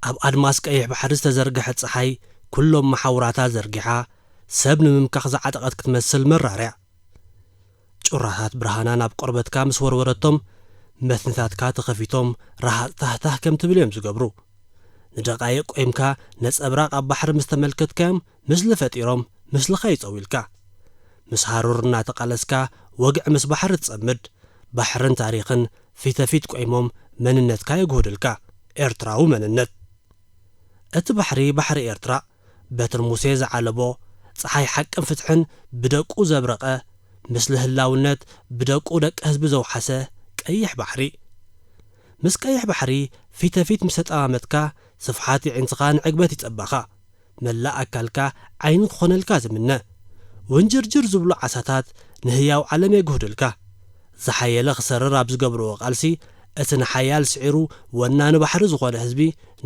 ኣብ ኣድማስ ቀይሕ ባሕሪ ዝተዘርግሐት ጸሓይ ኩሎም መሓውራታ ዘርጊሓ ሰብ ንምምካኽ ዝዓጠቐት ክትመስል መራርያ ጩራታት ብርሃና ናብ ቆርበትካ ምስ ወርወረቶም መትንታትካ ተኸፊቶም ረሃጽ ታህታህ ከም ትብል እዮም ዝገብሩ። ንደቓይቕ ቆይምካ ነጸብራቕ ኣብ ባሕሪ ምስ ተመልከትካዮም ምስሊ ፈጢሮም ምስልኻ ይጸውዩልካ። ምስ ሃሩር እናተቓለስካ ወግዒ ምስ ባሕሪ ትጸምድ። ባሕርን ታሪኽን ፊተፊት ቆይሞም መንነትካ የጉህዱልካ ኤርትራዊ መንነት እቲ ባሕሪ ባሕሪ ኤርትራ በትር ሙሴ ዝዓለቦ ጸሓይ ሓቅን ፍትሕን ብደቁ ዘብረቀ ምስሊ ህላውነት ብደቁ ደቂ ህዝቢ ዘውሓሰ ቀይሕ ባሕሪ ምስ ቀይሕ ባሕሪ ፊተፊት ምስ ተጠማመትካ ስፍሓት የዒንትኻን ዕግበት ይጸባኻ መላእ ኣካልካ ዓይኒ ክኾነልካ ዝምነ። ወንጀርጀር ዝብሉ ዓሳታት ንህያው ዓለም የግህዱልካ። ዝሓየለ ክሰርር ኣብ ዝገብርዎ ቃልሲ እቲ ንሓያል ስዒሩ ወናኒ ባሕሪ ዝኾነ ህዝቢ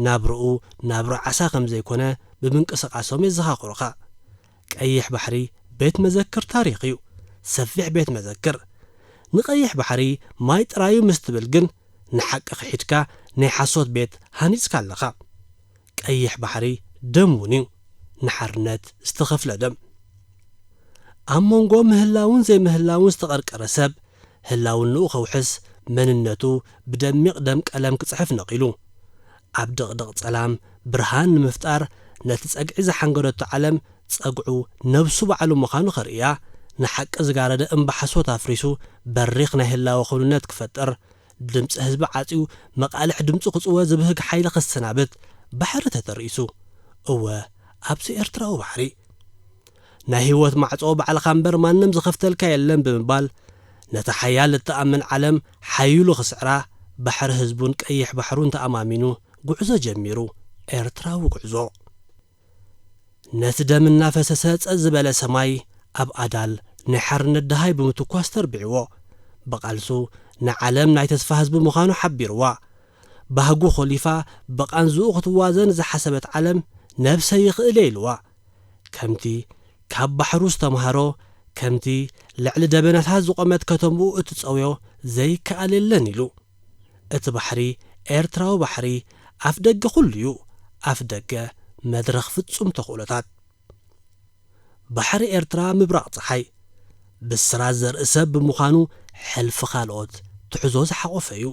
ናብርኡ ናብራ ዓሳ ከም ዘይኮነ ብምንቅስቓሶም የዘኻኽሩኻ። ቀይሕ ባሕሪ ቤት መዘክር ታሪኽ እዩ። ሰፊሕ ቤት መዘክር። ንቀይሕ ባሕሪ ማይ ጥራዩ ምስ ትብል ግን ንሓቂ ክሒድካ ናይ ሓሶት ቤት ሃኒጽካ ኣለኻ። ቀይሕ ባሕሪ ደም እውን እዩ ንሓርነት ዝተኸፍለ ደም። ኣብ መንጎ ምህላውን ዘይምህላውን ዝተቐርቀረ ሰብ ህላውንኡ ከውሕስ መንነቱ ብደሚቕ ደም ቀለም ክጽሕፍ ነቒሉ ኣብ ድቕድቕ ጸላም ብርሃን ንምፍጣር ነቲ ጸግዒ ዝሓንገደቶ ዓለም ጸግዑ ነብሱ ባዕሉ ምዃኑ ከርእያ ንሓቂ ዝጋረደ እምባ ሓሶት ኣፍሪሱ በሪኽ ናይ ህላወ ክውንነት ክፈጥር ድምጺ ህዝቢ ዓጽዩ መቓልሕ ድምጹ ክጽወ ዝብህግ ሓይሊ ክሰናበት ባሕሪ ተተርኢሱ። እወ ኣብዚ ኤርትራዊ ባሕሪ። ናይ ህይወት ማዕጾ ባዕልኻ እምበር ማንም ዝኸፍተልካ የለን ብምባል ነታ ሓያል እትኣምን ዓለም ሓዪሉ ክስዕራ ባሕሪ ህዝቡን ቀይሕ ባሕሩን ተኣማሚኑ ጉዕዞ ጀሚሩ። ኤርትራዊ ጉዕዞ። ነቲ ደም እናፈሰሰ ጸጥ ዝበለ ሰማይ ኣብ ኣዳል ናይ ሓርነት ደሃይ ብምትኳስ ተርቢዕዎ። ብቓልሱ ንዓለም ናይ ተስፋ ህዝቢ ምዃኑ ሓቢርዋ። ባህጉ ኾሊፋ ብቓንዝኡ ክትዋዘን ዝሓሰበት ዓለም ነብሰይ ይኽእል'የ ኢልዋ። ከምቲ ካብ ባሕሩ ዝተማህሮ፣ ከምቲ ልዕሊ ደበናታት ዝቖመት ከተምኡ እትጸውዮ ዘይከኣል የለን ኢሉ። እቲ ባሕሪ ኤርትራዊ ባሕሪ ኣፍ ደገ ኩሉ'ዩ፣ ኣፍ ደገ መድረኽ ፍጹም ተኽእሎታት። ባሕሪ ኤርትራ ምብራቕ ጸሓይ፣ ብስራት ዘርኢ ሰብ ብምዃኑ ሕልፊ ካልኦት ትሕዞ ዝሓቖፈ'ዩ።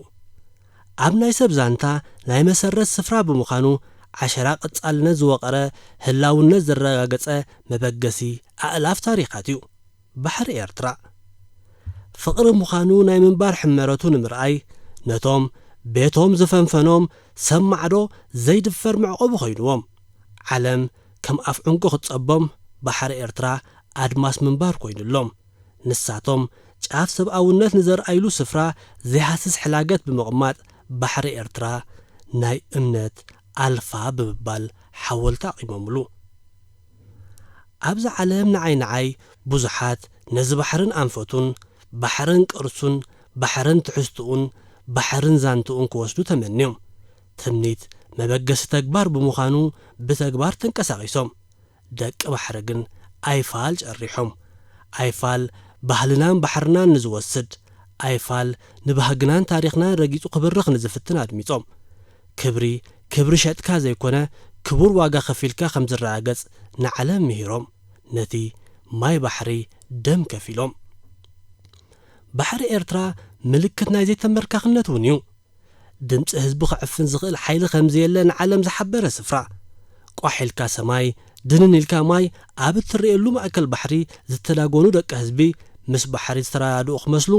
ኣብ ናይ ሰብ ዛንታ ናይ መሰረት ስፍራ ብምዃኑ ዓሸራ ቀጻልነት ዝወቐረ ህላውነት ዘረጋገጸ መበገሲ ኣእላፍ ታሪኻት'ዩ። ባሕሪ ኤርትራ ፍቕሪ ምዃኑ ናይ ምንባር ሕመረቱ ንምርኣይ ነቶም ቤቶም ዝፈንፈኖም ሰብ ማዕዶ ዘይድፈር መዕቆቢ ኮይኑዎም። ዓለም ከም ኣፍ ዑንቂ ክትጸቦም ባሕሪ ኤርትራ ኣድማስ ምንባር ኮይኑሎም። ንሳቶም ጫፍ ሰብኣውነት ንዘርኣይሉ ስፍራ ዘይሃስስ ሕላገት ብምቕማጥ ባሕሪ ኤርትራ ናይ እምነት ኣልፋ ብምባል ሓወልቲ ኣቚሞምሉ። ኣብዛ ዓለም ንዓይ ንዓይ ብዙሓት ነዚ ባሕርን ኣንፈቱን፣ ባሕርን ቅርሱን፣ ባሕርን ትሕዝትኡን፣ ባሕርን ዛንትኡን ክወስዱ ተመንዮም። ትምኒት መበገሲ ተግባር ብምዃኑ ብተግባር ተንቀሳቒሶም። ደቂ ባሕሪ ግን ኣይፋል ጨሪሖም። ኣይፋል ባህልናን ባሕርናን ንዝወስድ፣ ኣይፋል ንባህግናን ታሪኽናን ረጊጹ ክብርኽ ንዝፍትን ኣድሚጾም። ክብሪ ክብሪ ሸጥካ ዘይኮነ ክቡር ዋጋ ከፊልካ ከም ዝረጋገጽ ንዓለም ምሂሮም ነቲ ማይ ባሕሪ ደም ከፊሎም። ባሕሪ ኤርትራ ምልክት ናይ ዘይተንበርካኽነት እውን እዩ። ድምጺ ህዝቡ ክዕፍን ዝኽእል ሓይሊ ከም ዘየለ ንዓለም ዝሓበረ ስፍራ። ቋሕ ኢልካ ሰማይ ድንን ኢልካ ማይ ኣብ እትርእየሉ ማእከል ባሕሪ ዝተዳጎኑ ደቂ ህዝቢ ምስ ባሕሪ ዝተረዳድኡ ክመስሉ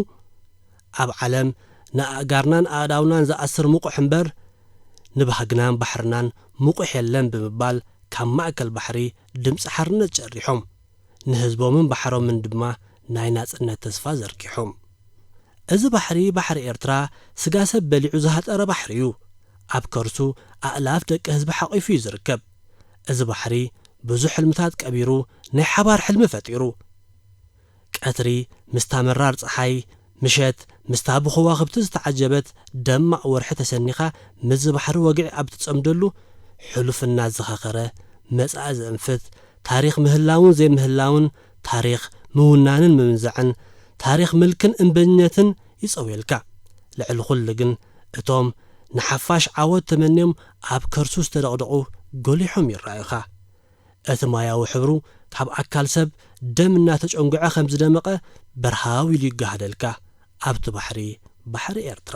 ኣብ ዓለም ንኣእጋርናን ኣእዳውናን ዝኣስር ምቑሕ እምበር ንባህግናን ባሕርናን ምቑሕ የለን ብምባል ካብ ማእከል ባሕሪ ድምጺ ሓርነት ጨሪሖም። ንህዝቦምን ባሕሮምን ድማ ናይ ናጽነት ተስፋ ዘርጊሖም። እዚ ባሕሪ ባሕሪ ኤርትራ ስጋ ሰብ በሊዑ ዝሃጠረ ባሕሪ እዩ። ኣብ ከርሱ ኣእላፍ ደቂ ህዝቢ ሓቒፉ እዩ ዝርከብ። እዚ ባሕሪ ብዙሕ ሕልምታት ቀቢሩ ናይ ሓባር ሕልሚ ፈጢሩ። ቀትሪ ምስታ መራር ጸሓይ፣ ምሸት ምስታ ብኸዋኽብቲ ዝተዓጀበት ደማቕ ወርሒ ተሰኒኻ ምስዚ ባሕሪ ወግዒ ኣብ እትጸምደሉ፣ ሕሉፍ እናዘኻኸረ መጻኢ ዘእንፍት፣ ታሪኽ ምህላውን ዘይምህላውን፣ ታሪኽ ምውናንን ምምንዛዕን፣ ታሪኽ ምልክን እምበኝነትን ይጸውየልካ። ልዕሊ ኹሉ ግን እቶም ንሓፋሽ ዓወት ተመንዮም ኣብ ከርሱ ዝተደቕደቑ ጎሊሖም ይረኣዩኻ። እቲ ማያዊ ሕብሩ ካብ ኣካል ሰብ ደም እናተጨንጉዐ ከም ዝደመቐ በርሃው ኢሉ ይገሃደልካ ኣብቲ ባሕሪ፣ ባሕሪ ኤርትራ።